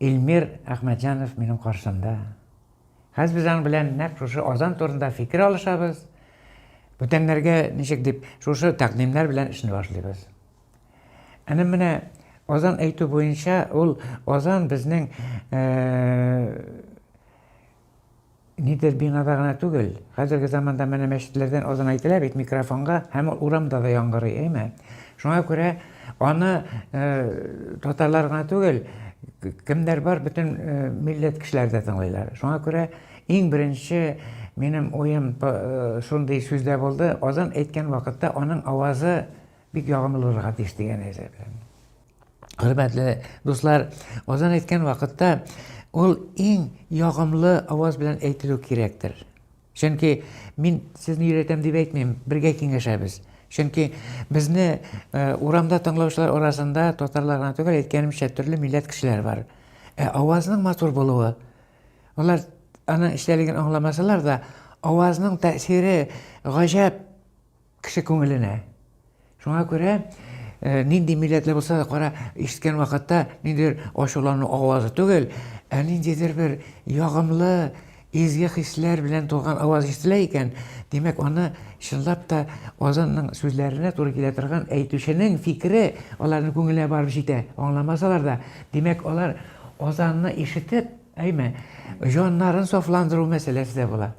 Илмир Әхмәтҗанов минем каршымда. Хәзер без аның белән нәкъ шушы азан турында фикер алышабыз. Бүтәннәргә ничек дип шушы тәкъдимнәр белән эшне башлыйбыз. Әнә менә азан әйтү буенча ул азан безнең э, Нидер бинада гына түгел, хәзерге заманда менә мәчетләрдән азан әйтелә бит микрофонга һәм ул урамда да яңгырый, әйме? Шуңа күрә аны татарлар гына түгел, кемнәр бар, бөтен милләт кешеләре дә тыңлыйлар. Шуңа күрә иң беренче минем уем шундый сүздә булды, азан әйткән вакытта аның авазы бик ягымлы булырга тиеш дигән әйбер. Хөрмәтле дуслар, азан әйткән вакытта ул иң ягымлы аваз белән әйтелү кирәктер. Чөнки мин сезне өйрәтәм дип әйтмим, бергә киңәшәбез. Чөнки безне э, урамда тыңлаучылар арасында татарлар гына түгел, әйткәнемчә, төрле милләт кешеләр бар. Ә авазның матур булуы, алар аның эчтәлеген аңламасалар да, авазның тәэсире гаҗәп Кеше күңеленә. Шуңа күрә нинди милләтле булса да кара, ишеткән вакытта ниндидер ачулану авазы түгел, ә ниндидер бер ягымлы, изге хисләр белән тулган аваз ишетелә икән, димәк, аны чынлап та Азанның сүзләренә туры килә торган әйтүченең фикере аларның күңеленә барып җитә, аңламасалар да. Димәк, алар Азанны ишетеп, әйме, җаннарын сафландыру мәсьәләсе дә була.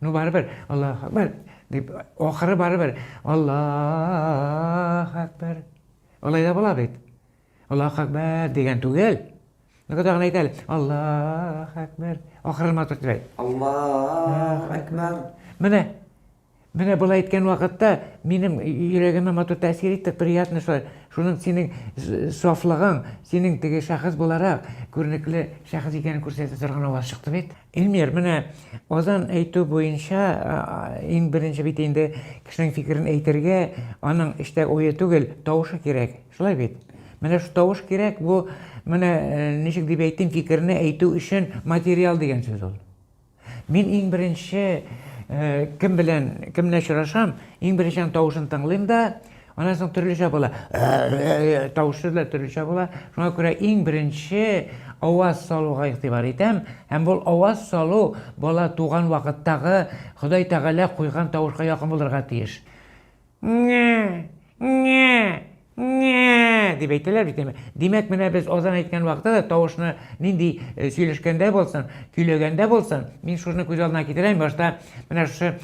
Ну барыбер, Аллаһ Әкбәр, дип, ахыры барыбер, Аллаһ Әкбәр. Алай да була бит. Аллаһ Әкбәр дигән түгел. Нигә тагын әйтә әле? Аллаһ Әкбәр. Ахырын матур тирәй. Аллаһ Әкбәр. Менә Менә болай әйткән вакытта минем йөрәгемә матур тәэсир итте, приятно шулай. Шуның синең сафлыгың, синең теге шәхес буларак күренекле шәхес икәнен күрсәтә торган аваз чыкты бит. Эльмир, менә азан әйтү буенча иң беренче бит инде кешенең фикерен әйтергә, аның эчтә уе түгел, тавышы кирәк. Шулай бит? Менә шул тавыш кирәк, бу менә ничек дип әйтим, фикерне әйтү өчен материал дигән сүз ул. Мин иң беренче кем белән, кем белән очрашам, иң беренче аның тавышын тыңлыйм да, Аннан соң төрлечә була. Тавышы да төрлечә була. Шуңа күрә иң беренче аваз салуга игътибар итәм. Һәм бу аваз салу бала туган вакыттагы Ходай Тәгалә куйган тавышка якын булырга тиеш. Ңә! Ңә! Ңә! дип әйтәләр бит инде. Димәк, менә без азан әйткән вакытта да тавышны нинди сөйләшкәндә булсын, көйләгәндә булсын, мин шуны күз алдына китерәм, башта менә шушы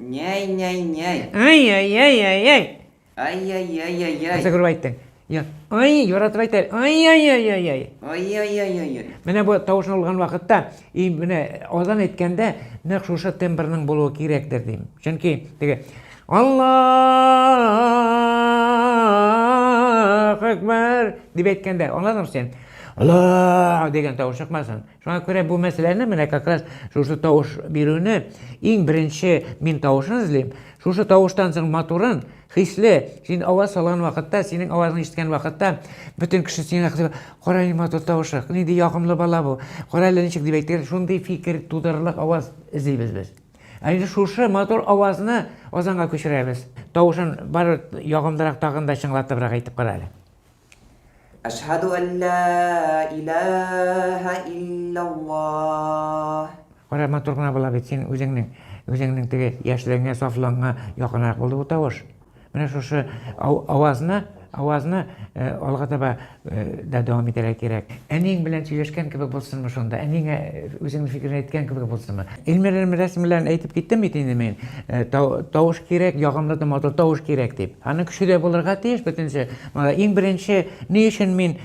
Няй-няй-няй. Ай-яй-яй-яй-яй. Ай-яй-яй-яй-яй. Нәрсә күреп әйттең? Я, ай, яратып әйтә. Ай-яй-яй-яй-яй. Ай-яй-яй-яй-яй. Менә бу тавышны алган вакытта, и менә азан әйткәндә нәкъ шушы тембрның булуы кирәктер дим. Чөнки теге Аллаһ акбар дип әйткәндә, аңладыңмы син? Аллаһ дигән тавыш чыкмасын. Шуңа күрә бу мәсьәләне менә как раз шушы тавыш бирүне иң беренче мин тавышын эзлим. Шушы тавыштан соң матурын, хисле, син аваз салган вакытта, синең авазыңны ишеткән вакытта, бөтен кеше сиңа хисле, кара ни матур тавышы, нинди ягымлы бала бу, кара әле ничек дип әйтер, шундый фикер тудырырлык аваз эзлибез без. Ә инде шушы матур авазны Озанга күчерәбез. Тавышын бар ягымлырак тагын да чыңлатыбрак әйтеп кара әле. Әшһәду ан лә илаһа илляллаһ. Кара, матур гына була бит синең үзеңнең, үзеңнең теге яшьлегеңә, сафлыгыңа якынрак булды бу тавыш. Менә шушы авазны, авазны алга таба да дәвам итәргә кирәк. Әниең белән сөйләшкән кебек булсынмы шунда, әниеңә үзеңнең фикереңне әйткән кебек булсынмы? Илмир Элмирәсин белән әйтеп киттем бит инде мин, тавыш кирәк, ягымлы да матур тавыш кирәк дип. Аның көче дә булырга тиеш бөтенесе. Иң беренче, ни өчен мин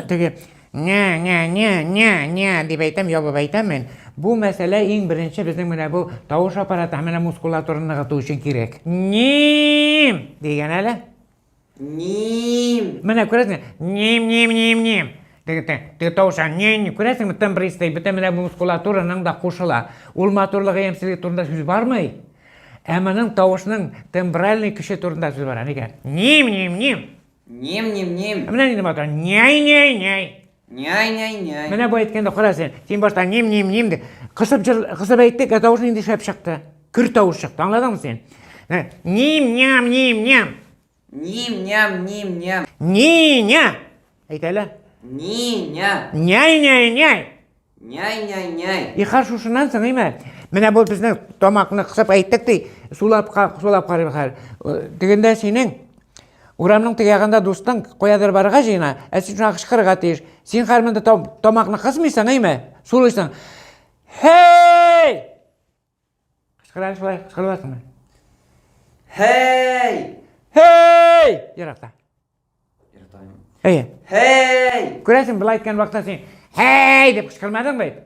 теге ня ня ня ня ня дип әйтәм, ябып әйтәмен. Бу мәсьәлә иң беренче безнең менә бу тавыш аппараты һәм менә мускулатураны ныгыту өчен кирәк. Ним! дигән әле. Ним! Менә күрәсеңме? Ним, ним, ним, ним. Теге тавыша, ним, күрәсеңме, тембристый, бөтен менә бу мускулатураның да кушыла. Ул матурлыгы, ямьсезлеге турында сүз бармый. Ә моның тавышның тембральный көче турында сүз бара, нигә? Ним, ним, ним. Ним, ним, ним. Менә нинди матур. Няй, няй, няй. Няй, няй, няй. Менә бу әйткәндә кара син. Син башта ним, ним, ним дип кысып җыр, кысып әйттек, ә тавыш нинди шәп чыкты. Көр тавыш чыкты. Аңладыңмы син? Ним, ням, ним, ням. Ним, ням, ним, ням. Ни-ня! Әйт әле. Ни-ня. Няй-няй-няй. Няй-няй-няй. И хорошо, шуннан соң, име? Менә бу безнең тамакны кысып әйттек ди, сулап сулап карыйбыз хәзер. Э, Дигәндә синең урамның теге ягында дустың каядыр барырга җыена, ә син шуңа кычкырырга тиеш. Син хәзер монда тамакны кысмыйсың, име? Сулыйсың. Һей! Кычкырар шулай, кычкырыласыңмы? Һәй! Һәй! Еракта. Еракта. Әйе. Һәй! Күрәсең, былай әйткән вакытта син һәй дип кычкырмадың бит.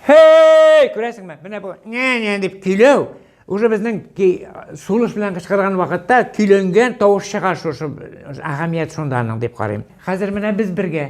Һәй! Күрәсеңме? Менә бу нә-нә дип көйләү уже безнең сулыш белән кычкырган вакытта көйләнгән тавыш чыга шушы әһәмият шунда аның дип карыйм. Хәзер менә без бергә.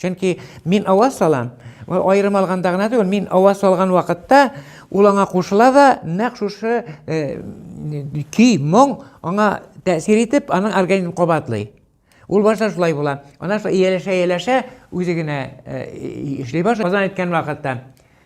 Чөнки мин ава салам, аерым алганда гына түгел, мин ава салган вакытта ул аңа кушыла да, нәкъ шушы э, көй, моң аңа тәэсир итеп, аның организмын кабатлый. Ул башта шулай була. Ана шулай ияләшә, ияләшә, үзе генә э, эшли башлый. Азан әйткән вакытта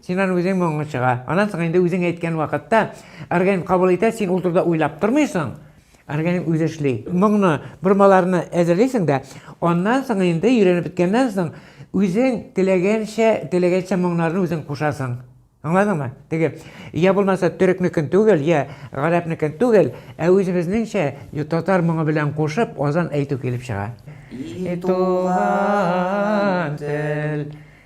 Син аны үзең моңың чыга. Аннан соң инде үзең әйткән вакытта организм кабул итә, син ул турыда уйлап тормыйсың, организм үзе эшли. Моңны, бормаларны әзерлисең дә, аннан соң инде өйрәнеп беткәннән соң үзең теләгәнчә, теләгәнчә моңнарны үзең кушасың. Аңладыңмы? Теге я булмаса төрекнекен түгел, я гарәпнекен түгел, ә үзебезнеңчә татар моңы белән кушып азан әйтү килеп чыга. И туган тел.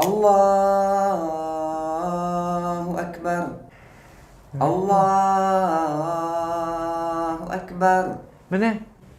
Аллаһу әкбәр! Аллаһу әкбәр! Менә,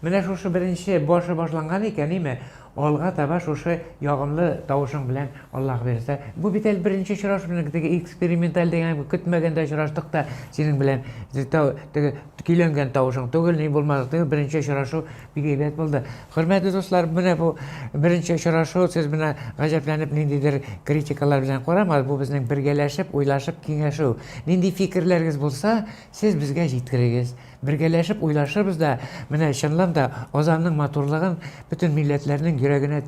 менә шушы беренче башы башланган икән, име? Алга таба шушы ягымлы тавышың белән, Аллаһ бирсә. Бу бит әле беренче очрашуның, теге эксперименталь дигән, көтмәгәндә очраштык та синең белән. Теге көйләнгән тавышың түгел, ни булмады, теге беренче очрашу бик әйбәт булды. Хөрмәтле дуслар, менә бу беренче очрашу, сез менә гаҗәпләнеп ниндидер критикалар белән карамагыз, бу безнең бергәләшеп, уйлашып киңәшү. Нинди фикерләрегез булса, сез безгә җиткерегез. Бергәләшеп уйлашырбыз да, менә чынлан да Азанның матурлыгын бөтен милләтләрнең йөрәгенә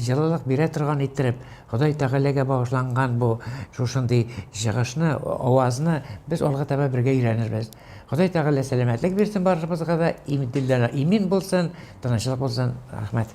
җылылык бирә торган иттереп, Ходай Тәгаләгә багышланган бу шушындый чыгышны, авазны без алга таба бергә өйрәнербез. Ходай тәгалә сәламәтлек бирсен барышыбызга да, имдилләре имин булсын, тынычлык булсын, рәхмәт.